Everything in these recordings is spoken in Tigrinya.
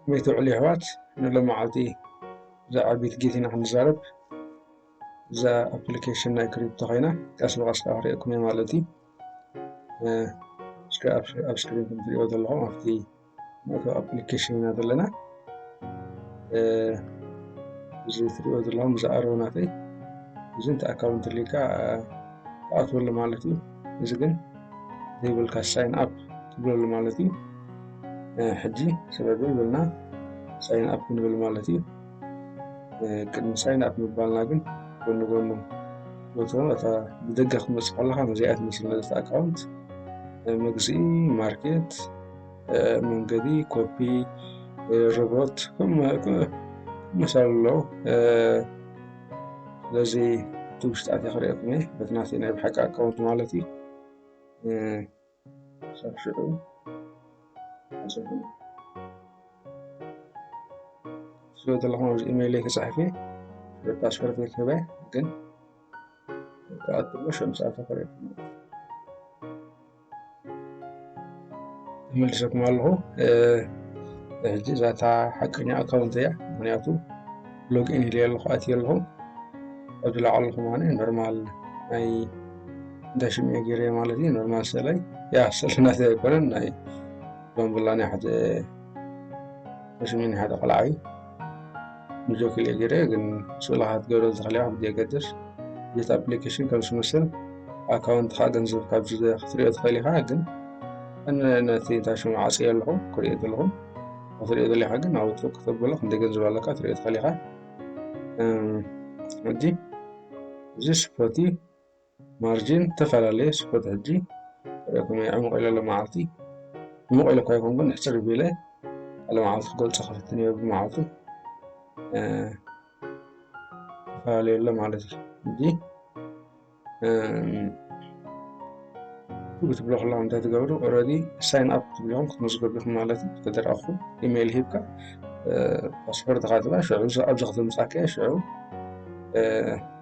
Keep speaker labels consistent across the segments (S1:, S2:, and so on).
S1: ከመይ ትውዕሉ የሕዋት ንሎማዓንቲ ብዛዕባ ቢትጌት ኢና ክንዛረብ እዛ ኣፕሊኬሽን ናይ ክሪፕቶ ኮይና ቀስ ብቀስ ከዓ ክሪኤኩም እየ ማለት እዩ እስከ ኣብ ስክሪን ከምትሪእዎ ዘለኹም ኣብቲ መእተዊ ኣፕሊኬሽን ኢና ዘለና እዚ ትሪእዎ ዘለኹም እዚ ኣርው ናተይ እዚ እንተ ኣካውንት ሊካ ትኣትወሉ ማለት እዩ እዚ ግን ዘይብልካ ሳይን ኣፕ ትብለሉ ማለት እዩ ሕጂ ስለዚ ይብልና ሳይን ኣፕ ክንብል ማለት እዩ ቅድሚ ሳይን ኣፕ ምባልና ግን ጎኒ ጎኑ ወትሮ እታ ብደገ ክመፅእ ከለካ ነዚኣ ትመስል ነዘቲ ኣካውንት መግዝኢ ማርኬት መንገዲ ኮፒ ሮቦት መሳሉ ኣለዉ ስለዚ እቲ ውሽጢ ኣትየ ክርእየኩም እየ በቲ ናተይ ናይ ብሓቂ ኣካውንት ማለት እዩ ክሳብ ሽዑ ኣፅብሉ ስለ ዘለኹም ኣብዚ ኢሜይለይ ክፅሕፍ እየ ሽዑ ፓስፖርት ክህበ ግን ክኣትሎ ሽዑ ምስ ኣተፈረየኩም መልሰኩም ኣለኹ ሕጂ እዛታ ሓቀኛ ኣካውንት እያ ምክንያቱ ሎግኢን ኢለ ኣለኹ ኣትየ ኣለኹ ኣብዚ ላዕሉ ከማነ ኖርማል ናይ እንዳ ሽምኤ ገይረ ማለት እዩ ኖርማል ሰለይ ያ ሰለናት ኣይኮነን ናይ ባምቡላ ናይ ሓደ ሽሚን ሓደ ቆልዓ እዩ ንጆ ክልኤ ገይረ ግን ስእላ ክትገብረ ዝኽእል ኣብ ዘየገድስ ጀት ኣፕሊኬሽን ከም ዝመስል ኣካውንትኻ ገንዘብ ካብ ክትሪኦ ትኽእል ኢኻ ግን ነቲ እንታይ ሽሙ ዓፅዮ ኣለኹ ክሪኦ ዘለኹ ክትሪኦ ዘለኻ ግን ኣብ ውፅእ ክተብሎ ክንደይ ገንዘብ ኣለካ ትሪኦ ትኽእል ኢኻ ሕጂ እዚ ስፖቲ ማርጂን ዝተፈላለየ ስፖት ሕጂ ከመይ ዕሙቕ ኢለ ሎመዓልቲ ዕሙቕ ኢለ እኳ ይኹን ግን ሕፅር ቢለ ሎመዓልቲ ክገልፆ ክፍትን እየ ብመዓልቱ ተፈላለየ ኣሎ ማለት እዩ ሕጂ ክትብሎ ከለኹም እንታይ ትገብሩ ኦልሬዲ ሳይን ኣፕ ክትብልኹም ክትመዝገቡ ኢኹም ማለት እዩ ተደረኹም ኢሜይል ሂብካ ፓስፖርት ካትባ ሽዑ ኣብዚ ከተምፃከ ሽዑ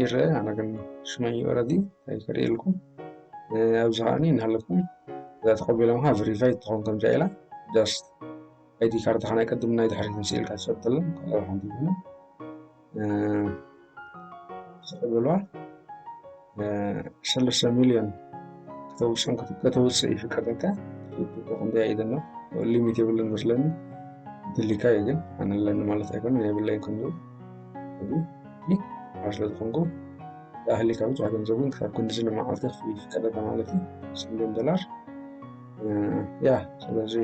S1: ይረአ ኣነ ግን ሽመይ ኦረዲ ኣይፈሪኤልኩም ኣብዚ ከዓኒ እናሃለፍኩም እዛ ተቐቢሎምካ ቨሪፋይ ትኸውን ከምዛ ኢላ ጃስት ኣይዲ ካርድካ ናይ ቅድም ናይ ድሕሪት ምስ ኢልካ ትሰጥልን ካልኣ ሓንቲ ይኹነ ተቐበልዋ ንሰለስተ ሚልዮን ከተውፅን ከተውፅእ ይፍቀደልካ ክንደያ እዩ ዘሎ ሊሚት የብሉን መስለኒ ድሊካ እዩ ግን ኣነ ኣለኒ ማለት ኣይኮነ የብለይ ክንዱ ኣብ ስለ ዝኾንኩ ዳህሊካ ብፁዕ ገንዘብ እውን ካብ ክንዲ ዝነ መዓልቲ ክፍል ይፍቀደልካ ማለት እዩ ሚልዮን ዶላር ያ ስለዚ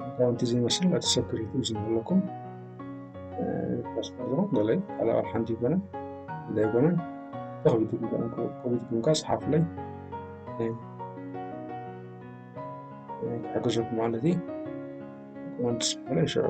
S1: ኣካውንቲ ዘይመስል እቲ ሰክሪቲ ምስ ዘለኩም ፓስፖርት ገለይ ካልእ ኣብ ሓንቲ ይኮነ እንታይ ይኮነ ተኽቢት ኮቢትኩም ካ ሰሓፍለይ ክሕግዘኩም ማለት እዩ ኮመንት ስፍለ ይሸዑ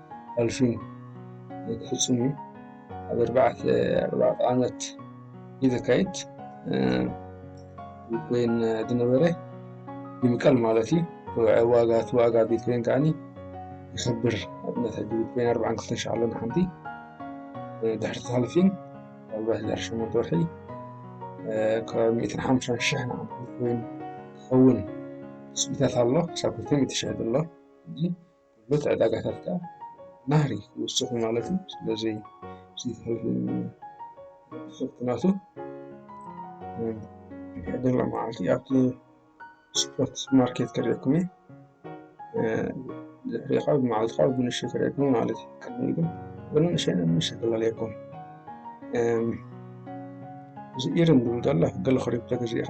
S1: ኣልፊ ክፍፅሙ ኣብ ኣርባዕተ ኣርባዕተ ዓመት እዩ ዘካይድ ቢትኮይን ዝነበረ ይምቀል ማለት እዩ ዋጋ እቲ ዋጋ ቢትኮይን ከዓኒ ይኸብር ኣብነት ሕጂ ቢትኮይን ኣርባዓን ክልተን ሸሕ ኣሎ ንሓንቲ ድሕሪ ተሃልፊን ኣብ ድሕሪ ሸሞንተ ወርሒ ካብ ሚእትን ሓምሳን ሸሕ ንሓንቲ ቢትኮይን ክኸውን ትፅቢታት ኣሎ ክሳብ ክልተ ሚእቲ ሸሕ ዘሎ ጉልበት ዕዳጋታት ከኣ ናህሪ ክውስኹ ማለት እዩ። ስለዚ ፍርትናቱ ሕድሪ መዓልቲ ኣብቲ ስፖርት ማርኬት ክርኤኩም እዩ ድሕሪ ካብ መዓልቲ ካብ ብንሽ ክርኤኩም ማለት እዩ ቅድሚ ግን ብንእሸነ ምሽ ክላለየኩም እዚ ኢርን ዝብል ዘሎ ገለ ክሪፕቶ ግዜኻ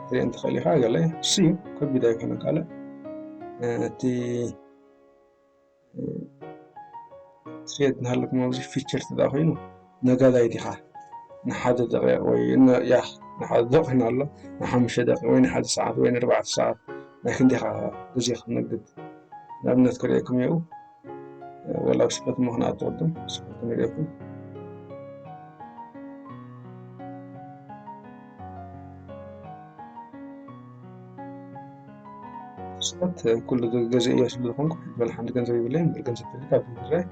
S1: ክትሪኦ እንትኽእል ኢኻ ገለ እሱ እዩ ከቢድ ኣይኮነን ካልእ እቲ ትሬድ እናሃለኩም ኣብዚ ፊቸር ትዳ ኮይኑ ነጋዳይ ዲኻ ንሓደ ደቂቕ ወይ ያ ንሓደ ደቂቕ ኮይኑ ኣሎ ንሓሙሽተ ደቂቕ ወይ ንሓደ ሰዓት ወይ ንኣርባዕተ ሰዓት ናይ ክንደኻ ግዜ ክትነግድ ንኣብነት ክርእየኩም እየው ወላ ስበት ምክንያት ወድም ስበት ንገኩም ስበት ኩሉ ገዜ እያ ስለ ዝኾንኩ በል ሓንቲ ገንዘብ ይብለይ ምበር ገንዘብ ትልቅ ኣብ ድራይ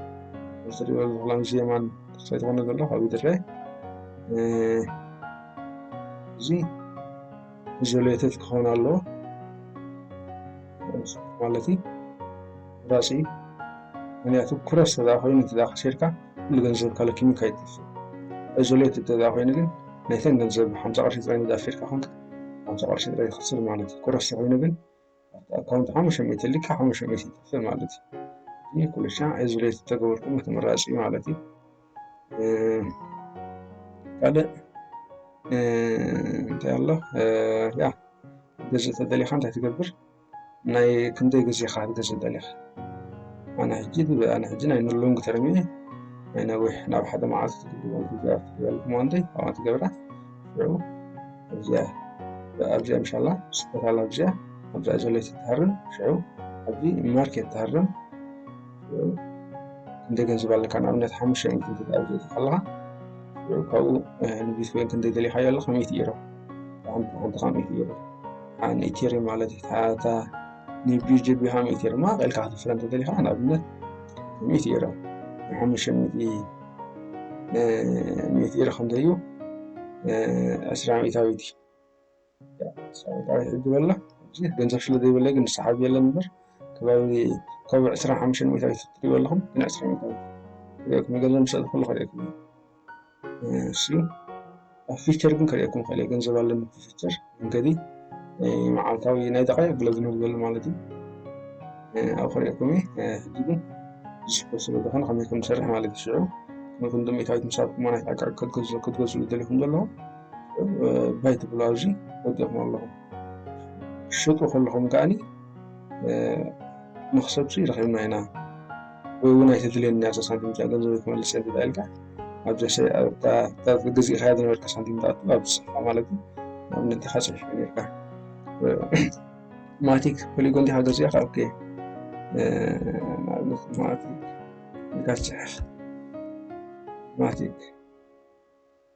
S1: ዝሪኦ ዝኽላ ምስ የማን ስለዝኾነ ዘሎ ካብ ድራይ እዚ ኢዞሌትድ ክኸውን ኣለዎ ማለት እዩ ራሲ እዩ ምክንያቱ ኩረስ ተደኣ ኮይኑ ተደኣ ከሲርካ ኩሉ ገንዘብ ካለኪሙ ከይጠፍእ እዞሌት ተደኣ ኮይኑ ግን ናይተን ገንዘብ ሓምሳ ቅርሺ ጥራይ እንዳ ኣፊርካ ኮንካ ሓምሳ ቅርሺ ጥራይ ትኸስር ማለት እዩ ኩረስ ተኮይኑ ግን ኣብቲ ኣካውንት ሓሙሽተ ሚእቲ ልካ ሓሙሽተ ሚእቲ ይጠፍእ ማለት እዩ ይህ ኩልሻ እዞሌት ተገበርኩም ተመራጺ እዩ ማለት እዩ ካልእ እንታይ ኣሎ ያ ገንዘብ ተደሊካ እንታይ ትገብር ናይ ክንደይ ግዜ ኢኻ ክትገዝእ ደሊኻ? ኣነ ሕጂ ኣነ ሕጂ ናይ ንሎንግ ተርም እየ ናይ ነዊሕ ናብ ሓደ መዓልቲ ክትገብር ትበልኩም ዋንደይ ኣብኣ ትገብራ ሽዑ ኣብዚኣ ኣብዚኣ ምሻላ ስበታላ ኣብዚኣ ኣብዚኣ ዘለይቲ ትሃርም ሽዑ ኣብዚ ማርኬት ትሃርም ሽዑ ክንደይ ገንዘብ ኣለካ ንኣብነት ሓሙሽተ ኢንት እንተኣብዚእቲ ከለኻ ሽዑ ካብኡ ንቢትኮይን ክንደይ ደሊኻዮ ኣለኻ ሚእቲ ኢሮ ሓንቲ ሓንቲ ኢትዮ ኣን ኢትሪ ማለት ታታ ንቢጂ ቢሃም ኢትሪ ማ ቀልካ ክትፍረ እንተደሊኻ ንኣብነት ሚት ኢሮ ንሓሙሽተ ሚት ኢሮ ከምዘዩ ዕስራ ሚእታዊት ሕጂ በላ ገንዘብ ስለ ዘይበለ ግን ሰሓብ የለን እምበር ከባቢ ካብ ዕስራ ሓሙሽተ ሚእታዊት ትሪእዎ ኣለኹም ግን ዕስራ ሚእታዊት ክሪኦ ክምገለ ምሰለ ኩሉ ክሪኦ ክምገለ እሺ ኣብ ፊቸር ግን ከሪኤኩም ክእል ገንዘብ ኣለኒ ፊቸር መንገዲ መዓልታዊ ናይ ደቃይቅ ብለ ዝነብዘሉ ማለት እዩ ኣብ ከሪኤኩም ሕጂ ግን ዝሽኮ ስለ ዝኾነ ከመይ ከም ዝሰርሕ ማለት እዩ ሽዑ ነቶም ድሜታዊት ምሳብኩም ናይ ዕቃ ክትገዝሉ ደሊኹም ዘለዎ ባይ ትብሉ ኣብዚ ወዲኹም ኣለኹም ሽጡ ከለኹም ከኣኒ መኽሰብሲ ረኺብና ኢና ወይ እውን ኣይተድልየኒ ኣብዛ ሳንቲም እዚኣ ገንዘበይ ክመልስ እየ ተባኢልካ ኣብዚ ኣብታ ገዚእኻያ ዝነበርካ ሳንቲም ትኣቱ ኣብ ዝስፋ ማለት እዩ ንኣብነት ኢኻ ፅሒፍ ነርካ ማቲክ ፖሊጎን ዲኻ ገዚእኻ ኦኬ ንኣብነት ማቲክ ኢልካ ትፅሕፍ ማቲክ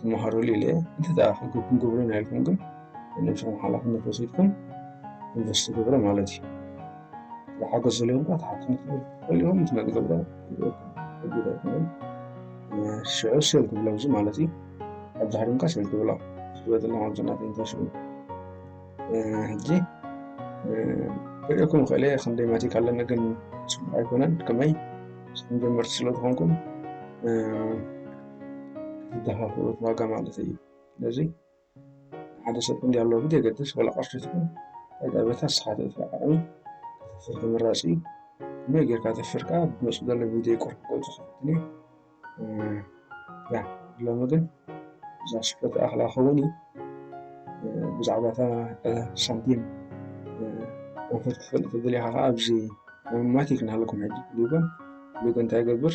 S1: ትመሃሩሉ ኢለ እንተ ክገብኩም ግብሩ ናይልኩም ግን ነብስኩም ሓላፍነት ወሲድኩም ኢንቨስቲ ግብሩ ማለት እዩ ዝሓገዝ ዘለዎም ካ ተሓትኩም ትኽእልኹም ትመጥ ገብረ ጉዳይኩም ሽዑ ሴል ትብሎ እዚ ማለት እዩ ኣብ ዝሃርምካ ሴል ትብሎ ዝበጥላ ኣብዘናት ኢንቨስት ሕጂ ክርእኩም ክእለ ክንደይ ማቲክ ኣለኒ ግን ፅቡቅ ኣይኮነን ከመይ ስኩም ጀመርቲ ስለዝኮንኩም ዝደፋፍእዎት ዋጋ ማለት እዩ። ስለዚ ሓደ ሰብ ክንደይ ኣለዎ ብዘየገድስ ዋላ ቅርሺ ትኹን ዕዳቤታ ንስኻ ትእትዎ ዓቕሚ ክትሕፍር ተመራፂ እዩ። ከመይ ጌርካ ተፍርካ ብመፅእ ዘሎ ቪድዮ ቁርብ ክገልፆ ክፍትን እዩ። ያ ሎሚ ግን እዛ ስፖርት ኣኽላ ክኸውን እዩ ብዛዕባ እታ ሳንቲም ወፈር ክትፈልጥ ትደልኻ ከዓ ኣብዚ ማቲክ ናሃለኩም ሕጂ ሊጎን ሊጎ እንታይ ይገብር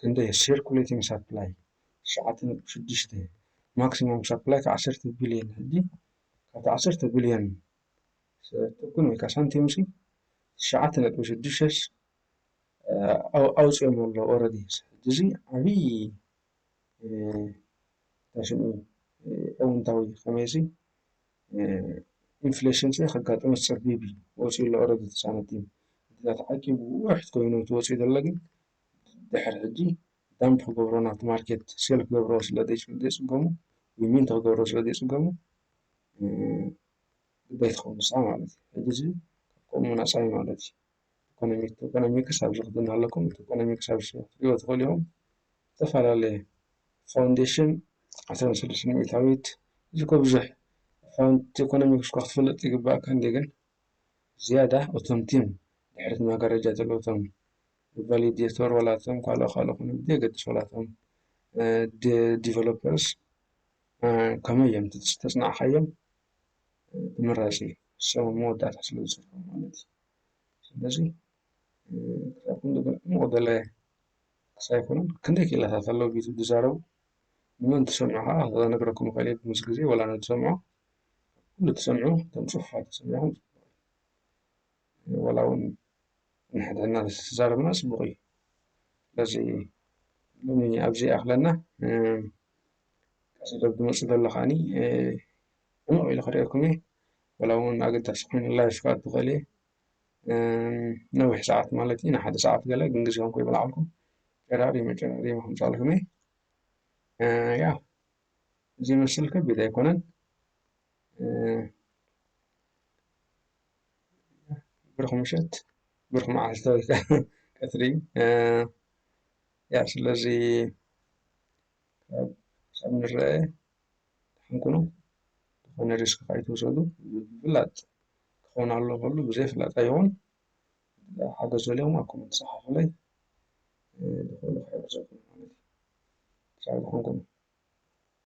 S1: ክንደይ ሴርኩሌቲንግ ሳፕላይ ትሽዓተ ነጥቢ ሽዱሽተ ማክሲማም ሳፕላይ ካብ ዓሰርተ ቢልዮን ሕጂ ካብቲ ዓሰርተ ቢልዮን ሰጥኩን ወይ ከዓ ሳንቲም ሲ ትሽዓተ ነጥቢ ሽዱሽተስ ኣውፅኦም ኣሎ ኦረዲ ሕጂ እዚ ዓብይ ታሽሙ እውንታዊ ከመይ ሲ ኢንፍሌሽን ሲ ከጋጥም ዝፀበብ እዩ ወፂኡ ኣሎ ኦረዲ ተሳነቲ ምክንያቱ ዓቂቡ ውሕድ ኮይኑ እቲ ወፂኡ ዘሎ ግን ድሕሪ ሕጂ ዳምፕ ክገብሮ ናብቲ ማርኬት ሴል ክገብሮ ስለ ዘይጽገሙ ወይ ሚንት ክገብሮ ስለ ዘይጽገሙ ግዳይ ትኸውን ንሳ ማለት እዩ። ሕጂ እዚ ከምኡ ናጻ እዩ ማለት እዩ። ኢኮኖሚክስ ኣብዚ ክዲ እናሃለኩም እቲ ኢኮኖሚክስ ኣብዚ ክትሪእዎ ትኽእሉ ኢኹም። ዝተፈላለየ ፋውንዴሽን ዓሰርተ ስድስተ ሚእታዊት እዚ እኮ ብዙሕ ፋውንድ ኢኮኖሚክስ እኳ ክትፈልጥ ይግበኣካ እንድዩ ግን ዝያዳ እቶም ቲም ድሕሪ እቲ መጋረጃ ዘለዉ እቶም ቫሊዴተር ዋላ እቶም ካልኦ ካልኦ ክኾኑ ብዘየገድስ ዋላ እቶም ዲቨሎፐርስ ከመይ እዮም ተፅናዕካዮም ተመራፂ እዩ ሰው መወዳእታ ስለ ዝፅሕፉ ማለት እዩ ስለዚ ክሳብ ክንዲ ዕሙቕ ገለ ሳይኮንን ክንደይ ክኢላታት ኣለዉ ቢቱ ዝዛረቡ ንመን ትሰምዑ ከዓ ክነግረኩም ይኽእል እየ ምስ ግዜ ዋላ ንትሰምዑ ኩሉ ትሰምዑ እቶም ፅሑፋት ትሰምዑ ዋላ ውን ንሕድሕድና ተዝተዛረብና ፅቡቅ እዩ ስለዚ ሎሚ ኣብዚ ይኣክለና ቀፅሎ ብዝመፅእ ዘሎ ከዓኒ ዕምቅ ኢለ ክርእየኩም እየ ዋላ ውን ኣገዳሲ ኮይኑ ላይፍ ክኣቱ ይክእል እየ ነዊሕ ሰዓት ማለት እዩ ንሓደ ሰዓት ገለ ግን ግዜኩም ከይበላዓልኩም ጨራሪመ ጨራሪመ ከምፃልኩም እየ ያ እዚ ይመስል ከቢድ ኣይኮነን ብሩኽ ምሸት ብሩኽ መዓልቲ ወይ ከኣ ቀትሪ ስለዚ ክሳብ ንርኣ ደሓን ኩኑ ዝኮነ ሪስክ ኣይትውሰዱ ምፍላጥ ክኮን ኣለዎ ከሎ ብዘይ ፍላጥ ኣይኮን ሓገዝ ደልዮም ኣብ ኮመንት ጸሓፉለይ ብዝኮነ ክሕግዘኩም ክሳብ ዝኮንኩ።